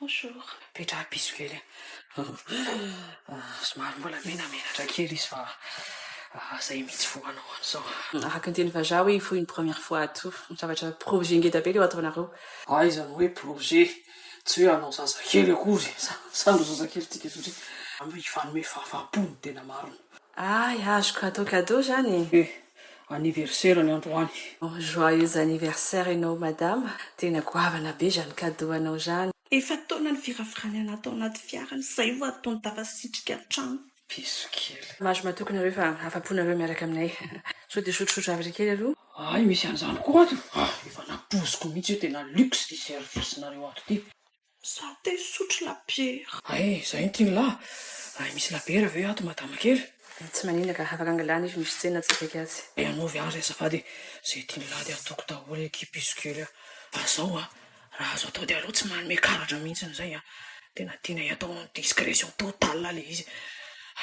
Bonjour. Petraha piso kely a! Somary mbola menamenatra kely izy fa zay mitsy vao hanao an'izao. Araka ny teny vazaha hoe for une première fois à tout. Zavatra projet ngeda be leo ataonareo. Aiza no hoe projet? Tsy hoe hanao zazakely akory e! Sa andao zazakely tsika satria anao hifanome fahafahampo ny tena marina. Ay azoko atao cadeau zany e! anniversaire ny androany. Joyeux anniversaire enao madama, tena goavana be zany cadeau anao zany. Efa taona ny firafirany ana tao anaty fiara ny zay vo atony tafasitrika an-trano. Bisous kely. Mahazo matoky nareo fa afapo nareo miaraka aminay. Sao dia sotrosotro havre kely aloha? Hay misy an'izany koa ato. Ah efa nampoiziko mihitsy hoe tena luxe ity service nareo ato ity. Za te hisotro labiera. Ay, zay no tiany lah. Ay, misy labiera ve ato madama kely? Tsy maninona ka, afaka angalana izy misy tsena tsy akaiky azy. Ay, anaovy azy azafady e. Zay tiany lah de ataoko daholo ny kipe izy kely a. Fa zao a, raha azo atao de aleo tsy manome karatra mihitsiny zay a. Tena tianay atao en discretion totale le izy.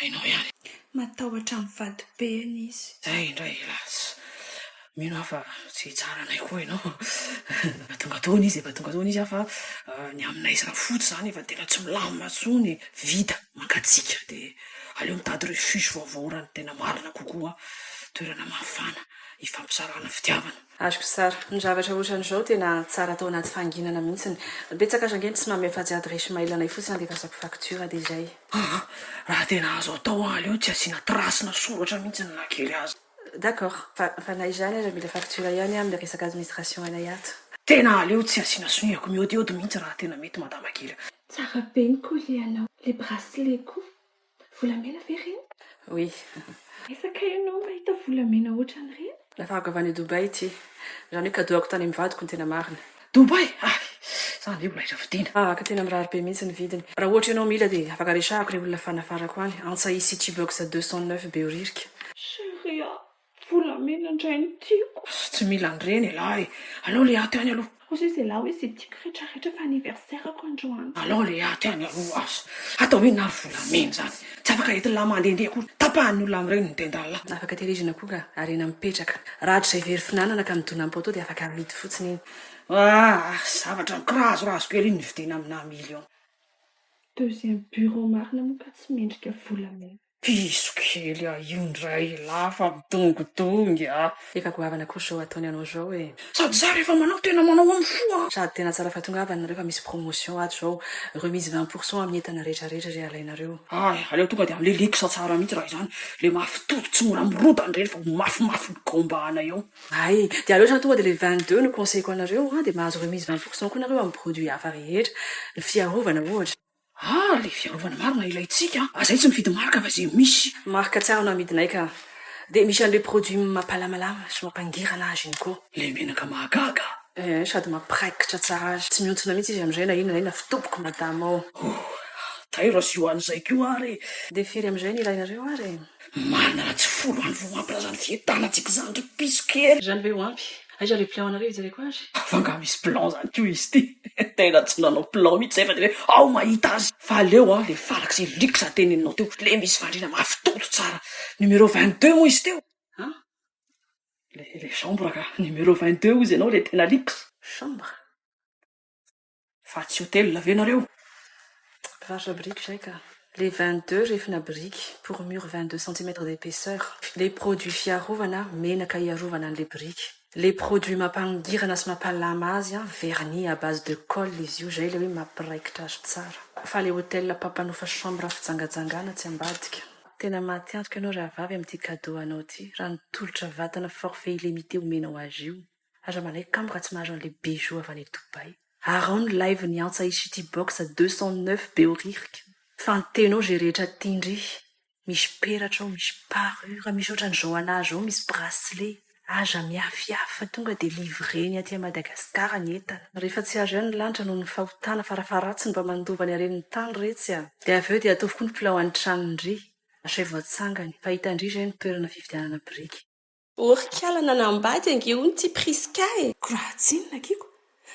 Hainao ihany. Matahotra ny vadibeny izy. Zay indray hélas. Mino aho fa tsy hitsara anay koa ianao. Efa tonga tao hono izy, efa tonga tao hono izy an! Fa ny aminay samy foot izany efa tena tsy milamina intsony e! Vita, mangatsiaka dia aleo mitady refuge vaovao raha ny tena marina kokoa, toerana mafana hifampisarahana fitiavana. Azoko tsara. Ny zavatra ohatran'izao tena tsara atao anaty fahanginana mihitsiny. Betsaka aza ange ny tsy manome afa-tsy adiresy mail anay fotsiny handefasako facture dia izay. Aa! Raha tena azo atao an, aleo tsy asiana trace-na soratra mihitsy na kely aza. D'accord fa fa na izany aza mila facture ihany an le resaka administration anay ato. Tena aleo tsy asiana sonia-ko miodiody mihitsy raha tena mety madama kely a. Tsara be ny collier anao. Le bracelet koa. Volamena ve reny? Oui. Aiza kay ianao mahita volamena ohatran'ireny? Nafarako avy any Dubaï ity. Izany hoe cadeau-ako tany amin'ny vadiko ny tena marina. Dubai! Hay! Za anie mbola hiravidiana. Ahh ka tena mirary be mihitsy ny vidiny. Raha ohatra ianao mila dia afaka resahako re olona fanafarako any antsa i city box deux cent neuf behoririka. Chérie a! Volamena indray no tiako. Tsy mila an'ireny ialahy. Alao le aty any aloha. Kosa izy ialahy hoe izay tiako retraretra fa anniversaire-ko androany. Alao le aty any aloha. Asa atao inona ary volamena izany. Tsy afaka entin'lah mandehandeha akory. Tapahan'ny olona amin'ireo ny tendan'lah. Tsy afaka tehirizina akory ka harena mipetraka. Raha hatrizay very finanana ka midona am-poteau dia afaka amidy fotsiny iny. Ah! zavatra mikirazorazo kely iny nividiana aminà millions. Deuxième bureau marina moa ka tsy mendrika volamena. Piso kely ah io ndray elah fa midongidongy ah. Efa goavana kosa zao ataony anao zao e. Sady za rehefa manao tena manao am fo a. Sady tena tsara fa tongava nareo fa misy promotion ato zao remise vingt pour cent amin'ny entana rehetra rehetra re alainareo. Ay aleo tonga dia amle luxe tsara mihitsy raha izany, le mafy tody tsy mora mirodana ireny fa ho mafimafy ny gaombahana eo. Ay dia aleo izany tonga dia le vingt deux no conseil-ko anareo an dia mahazo remise vingt pour cent koa nareo amin'ny produit hafa rehetra, ny fiarovana ohatra. Ah le fiarovana marina ilaintsika a! Zay tsy mividy marque fa ze misy. Marque tsara no amidinay ka. Dia misy an'le produit mapalamalama sy mampangirana azy iny koa. Le menaka mahagaga a! Eh sady mampiraikitra tsara azy. Tsy mihontsona mihitsy izy amizay na inona na inona fa tompoko madama ô! Ohh! Tairo azy io an'izay koa ary e! Dia firy amizay no ilainareo ary e? Marina raha tsy folo andro vao ampy raha zany fientanantsika izany ry piso kely. Izany ve ho ampy? Aiza le plan anareo hijereko azy? Fa nga misy plan zany ko izy ty? Tena tsy nanao plan mitsy zay fa de hoe ao mahita azy. Fa aleo a le farak'zay lyrics teneninao teo le misy fandriana mafy toto tsara. Numero vingt deux moa izy teo? An? Le le chambre ka, numero vingt deux hozy ianao le tena lyrics? Chambre? Fa tsy hotel ve nareo? Mpivarotra biriky izay ka. Les vingt deux refina biriky pour mur vingt deux centimètres d'épaisseur, les produits fiarovana, menaka hiarovana an'ilay biriky, les produits mampangirana sy mampalama azy, vernis à base de colle izy io, izay ilay hoe mampiraikitra azy tsara. Fa ilay hotel mpampanofa chambre fijangajangana tsy ambadika. Tena mahatiantoka ianao rahavavy amin'ity cadeau anao ity, raha ny tolotra vatana forfait illimité omenao azy io. Aza manaiky kamo raha tsy mahazo an'ilay Bijou avy any Dubaï. Arao ny live ny antsa i City Box deux cent neuf be oririka fa ny teny ao ze rehetra tia ndry. Misy peratra ao, misy parure, misy ohatran'i Johanna zao misy bracelet. Aza miafiafy fa tonga dia livrer-ny aty à Madagascar ny entana. Rehefa tsy azo ihany ny lanitra noho ny fahotana farafaharatsiny mba mandova ny haren'ny tany retsy a! Dia avy eo dia ataovy koa ny mpilaohan'ny tranon-dry. Asaivo atsangany fa hitan-dry izay ny toerana fividianana biriky. Orikala nanambady ange hono ty Prisca e! Ko raha tsinona Kiko,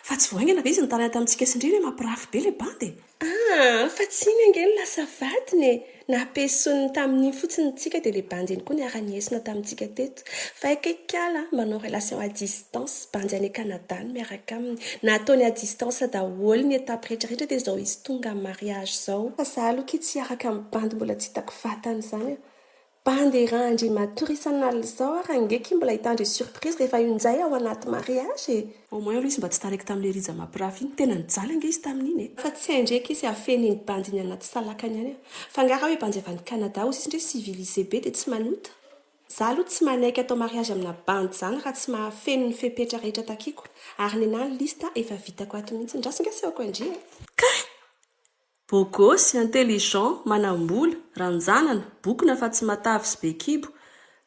fa tsy vao haingana ve izy nitarana tamintsika sy Ndry re mampirafy be le bandy e! Ah! fa tsy iny ange no lasa vadiny e! nampiesoniny tamin'iny fotsiny ny tsika dia le bandy iny koa niara-niesona tamintsika teto! fa aiko e kala a! manao relation à distance, bandy any Canada no miaraka aminy, nataony à distance daholo ny étape rehetra rehetra dia izao izy tonga mariage izao! Fa za aloha akia tsy hiaraka amin'ny bandy mbola tsy hitako vatany izany a! Bandy ra Andriamatoa Risan'Alzao ary ange ky mbola hitandre surprise rehefa io njay ao anaty mariage e! Au moins aloha izy mba tsy taraiky tamin'ilay Rija Mampirafy iny, tena nijaly ange izy tamin'iny e! Fa tsy hay ndre ky izy hafeno iny bandy iny anaty salakany any a! Fa nga raha hoe bandy avy any Canada ozy izy ndre civilisé be dia tsy manota? Za aloha tsy manaiky atao mariage amina bandy zany raha tsy mahafeno ny fepetra rehetra takiako, ary nenah ny liste efa vitako ato mihitsy, ndraso nga sehoko ndry e! Kay! Beau gosse, intelligent, manambola, ranjanana, bokona fa tsy matavy sy be kibo,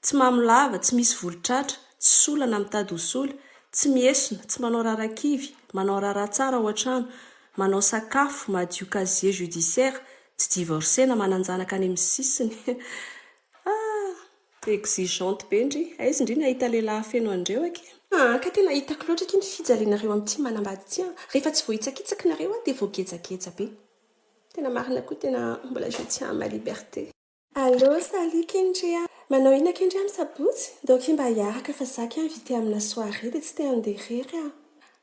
tsy mamo lava, tsy misy volo tratra, tsy sola na mitady ho sola, tsy miesona, tsy manao raharaha kivy, manao raharaha tsara ao an-trano, manao sakafo, madio casier judiciaire, tsy divorce na manan-janaka any amin'ny sisiny. Ah! Exigeante be ndry. Aiza ndry ny hahita lehilahy feno an'ireo aky? Aa ka tena hitako loatra aky ny fijalianareo amin'ity manambady ity an! Rehefa tsy voahitsakitsaky nareo aho dia voagejageja be. Tena marina koa tena mbola je tiens à ma liberté. Allô, salut Kendry a! Manao inona Kendry amin'ny sabotsy? Ndao akia mba hiaraka fa za akia invité amina soirée dia tsy te handeha irery aho.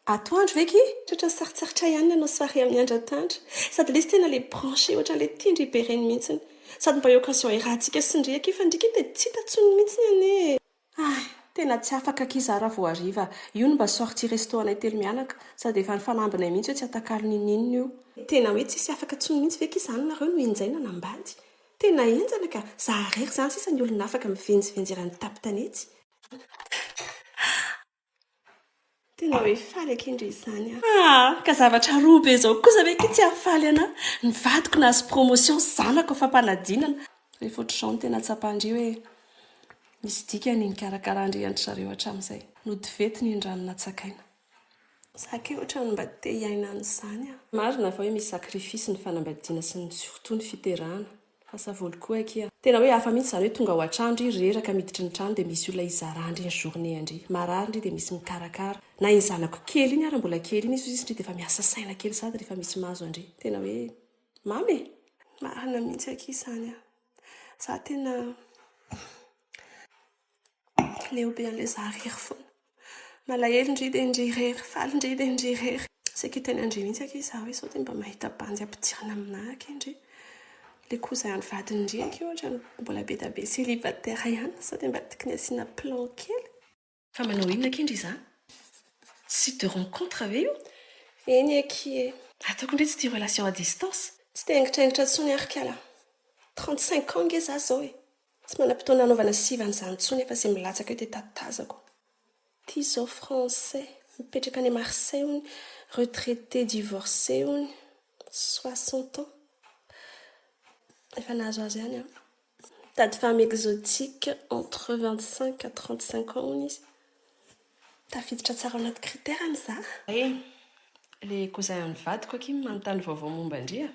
Atoandro ve ki? Tratra sarotsarotray ihany ny hanao soirée amin'i Andry Antandra. Sady lesy tena le branché ohatran'ilay tia ndry Beren mihitsiny. Sady mba occasion iarahantsika sy ndry aky fa ndry ki dia tsy hita tsony mihitsiny anie e. Hay, tena tsy afaka aky za raha vao hariva. Io no mba sortie resto anay telo mianaka. Sady efa nifanambinay mihitsy hoe tsy atakalo n'inon'inona io. Tena hoe tsisy afaka tsony mihitsy ve ki zany nareo no enjaina nambady? Tena enjana ka! Za rery zany sisa ny olona afaka mivenjivenjy eran'ny tapy tanety. Tena hoe faly akia ndry izany aho. Ah! Ka zavatra roa be izao kosa ve akia tsy hahafaly ana? Ny vadiko nahazo promotion, ny zanako fampanadinana. Rehefa ohatr'izao no tena tsapan-dry hoe misy dikany ny karakarahan-dry-an-dry zareo hatramin'izay. Nody vety ny rano natsakaina. Za akia ohatran'ny mba te hiaina an'izany aho. Marina fa hoe misy sacrifice ny fanambadiana sy ny tsy fotony fiterahana. Fa savoly koa akia. Tena hoe hafa mihitsy izany hoe tonga ao an-trano ndry reraka miditry ny trano dia misy olona hizara ndry ny journée ndry. Marary ndry dia misy mikarakara. Na iny zanako kely iny ara mbola kely iny izy hozy izy ndry dia efa miasa saina kely sady rehefa misy mahazo an-dry. Tena hoe mamy e! Marina mihitsy akia izany an! Za tena leo be an'ilay zary irery foana. Malahelo ndry dia ndry irery, faly ndry dia ndry irery. Saika hiteny an-dry mihitsy akia izaho hoe sao dia mba mahita bandy ampidirina aminà akia ndry. Ilay koza an'ny vadin-dry akia ohatra no mbola be dia be célibataire ihany, sao dia mba tokony asiana plan kely. Fa manao inona akia ndry izaho? Site de rencontre ve io? Eny akia e! Ataoko ndry tsy tia relation à distance. Tsy dia angitraingitra intsony ary kala. Trente cinq ans ange izaho izao e! Tsy manam-potoana anaovana siva an'izany intsony fa izay milatsaka eo dia tatazako. Ity izao français, mipetraka any Marseille hono, retraité divorcé hono, soixante ans. Efa nahazoazo ihany an. Mitady femme exotique entre vingt cinq à trente cinq ans hono izy. Tafiditra tsara ao anaty critère-ny za. Hay, le cousin an'ny vadiko akia manontany vaovao momba an-dry a.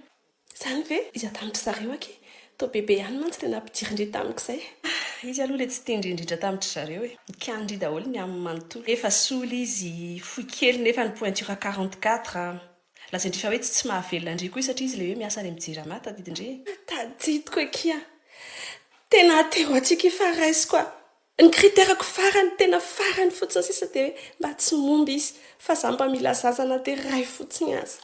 Izany ve? Izy an-danitry zareo ange. Toa bebe ihany mantsy ilay nampidirin-dry tamiko izay. Ah, izy aloha ilay tsy tian-dry indrindra tamin-dry zareo e. Nikanin-dry daholo ny aminy manontolo. Efa sola izy, fohy kely nefa ny pointure quarante quatre. Lazain-dry fa hoe tsy tsy mahavelona an-dry koa izy satria izy ilay hoe miasa any amin'ny Jirama, tadidin-dry e. Tadidiko akia. Tena aty ho aty akia fa raisiko a. Ny critère-ko farany, tena farany fotsiny sisa dia hoe mba tsy momba izy, fa izaho mba mila zaza na dia iray fotsiny aza.